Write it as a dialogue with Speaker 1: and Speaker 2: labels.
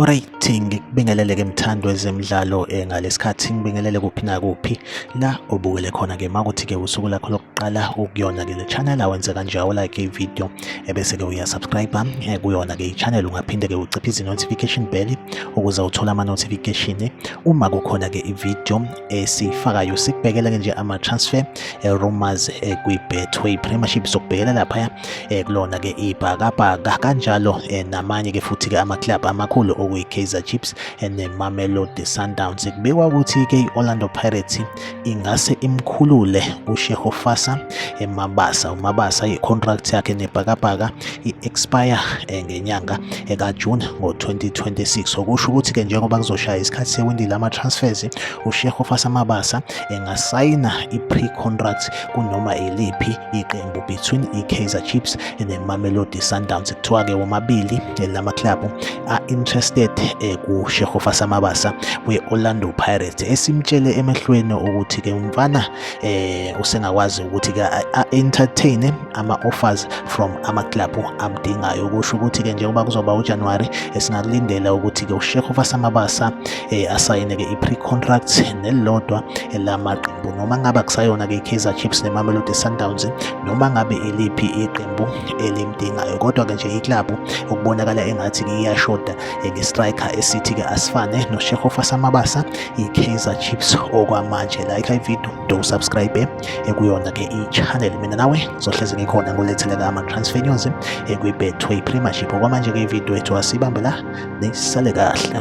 Speaker 1: Alright, ngikubingelele ke mthando ezemidlalo eh, ngalesikhathi ngibingelele kuphi na kuphi la obukele khona ke makuthi ke usuku lakho qala ukuyona ke le channel awenze kanje awulike ivideo ebese-ke uyasubscribe eh, kuyona-ke i-channel ungaphinde-ke uciphe izi-notification bell ukuze uthole ama-notification uma kukhona-ke ivideo esiyifakayo sikubhekela-ke nje ama-transfer eh, rumors eh, kwi-betway premiership sokubhekela laphaya kulona-ke ibhakabhaka kanjalo namanye-ke futhi-ke ama-club amakhulu okuyi-kaizer chiefs ne-mamelodi sundowns kubikwa ukuthi-ke i-orlando pirates ingase imkhulule uShehofasa eMabasa. UMabasa i-contract yakhe nebhakabhaka i-expire eh, ngenyanga ekaJune eh, ngo-2026 okusho ukuthi-ke njengoba kuzoshaya isikhathi sewindi lama-transfers uShehofasa Mabasa engasayina eh, i-pre-contract kunoma iliphi iqembu between i-Kaizer Chiefs ne-Mamelodi Sundowns kuthiwa-ke womabili lama-club are interested eh, kuShehofa Samabasa we-Orlando Pirates esimtshele emehlweni ukuthi ke umfana eh usengakwazi ukuthi ke entertain ama offers from ama club amdingayo kusho ukuthi ke njengoba kuzoba uJanuary esingakulindela ukuthi ke uShehofa Samabasa eh asayine ke i-pre contract nelilodwa elamaqembu noma ngabe kusayona ke iKaizer Chiefs neMamelodi Sundowns noma ngabe iliphi iqembu elimdingayo kodwa-ke nje iklabhu ukubonakala engathi iyashoda ngestriker esithi-ke asifane noshehofa samabasa i-kaizer chips okwamanje like ividiyo ndowusubscribe ekuyona-ke i-channel mina nawe ngizohlezi ngikhona ngoletheleka ama-transfer news ekwi-betway premiership okwamanje-ke ividiyo ethu asibambe la nisale kahle